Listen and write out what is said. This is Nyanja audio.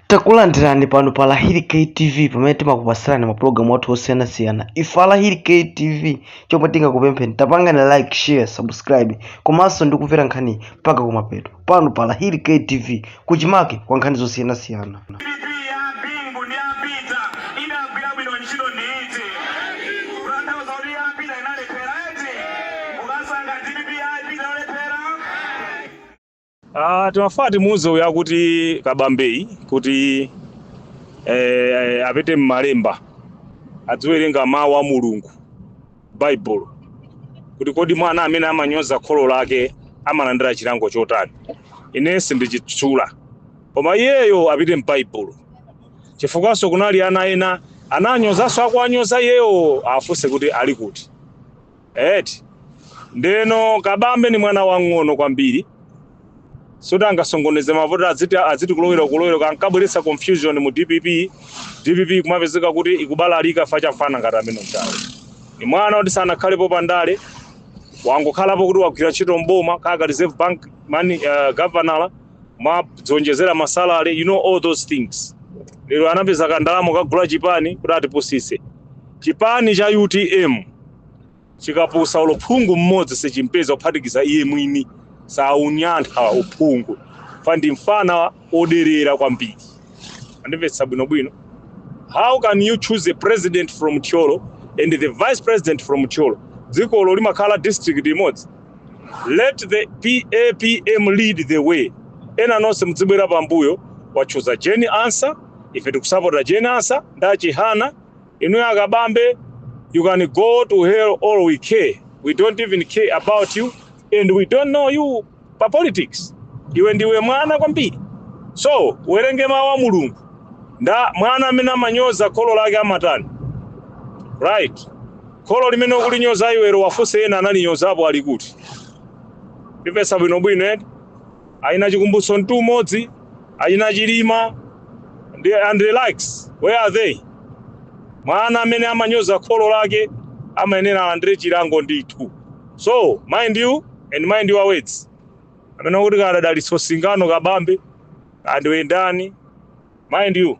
takulandirani pano pa lahiri ktv pamene timakupatsirani mapulogalamu athu osiyanasiyana ife alahiri ktv chomwe tingakupempheni tapangani like share subscribe komanso ndikumvera nkhani mpaka kumapeto pano pa lahiri ktv kuchimake kwa nkhani zosiyanasiyana DPP ya Bingu ndi ya apita idagwira bwino ntchito ndi iti kutanthauza kuti ya apita inalephera eti mukasankha DPP ya apita yolephera Ah, timafuna timuuze uyu akuti kabambeyi kuti eh, apite m'malemba adziwerenga mawu a mulungu baibulo kuti kodi mwana amene amanyoza kholo lake amalandira chilango chotani ine sindichitchula koma iyeyo apite m'baibulo chifukwa kunali anthu ena ananyozanso akuwanyoza iyeyo afunse kuti ali kuti Eti ndeno kabambe ni mwana wang'ono kwambiri soti angasokoneze mavoti adziti kulowera kulowera kukabweretsa confusion mu dpp dpp ikumapezeka kuti ikubalalika fa cha mfana ngati ameneyu ni mwana oti sanakhalepo pa ndale wangokhalapo kuti wagwira ntchito mboma kaya ka reserve bank mani uh, governor mwadziwonjezera masalary you know all those things lero anapeza kandalamo kagula chipani kuti atipusitse chipani cha utm chikapusa olo phungu mmodzi sichimupeza kuphatikiza iye mwini saunyatha uphungu fa ndi mfana oderera kwambiri andimvetse bwinobwino how can you choose a president from thyolo and the vice president from thyolo dzikolo limakhala district imodzi Let the papm lead the way ena nonse mudzibwera pambuyo wachuza Jane Ansa ife tikusapota Jane Ansa ndi a Chihana inuyo akabambe you can go to hell all we care we don't even care about you and we don't know you pa politics iwe ndiwe mwana kwambiri so uwerenge mawu a mulungu kuti mwana amene amanyoza kholo lake amatani right Kholo limene ukulinyoza iwelo uwafunse ena analinyozapo ali kuti? Ndimvetse bwino bwino eti? Achina chikumbutso mtumodzi, achina chilima and the likes where are they? Mwana amene amanyoza kholo lake amayenera alandire chilango ndithu so mind you and mind your words amene akuti kaya dalitso singano kabambe kaya ndiwe ndani mind you.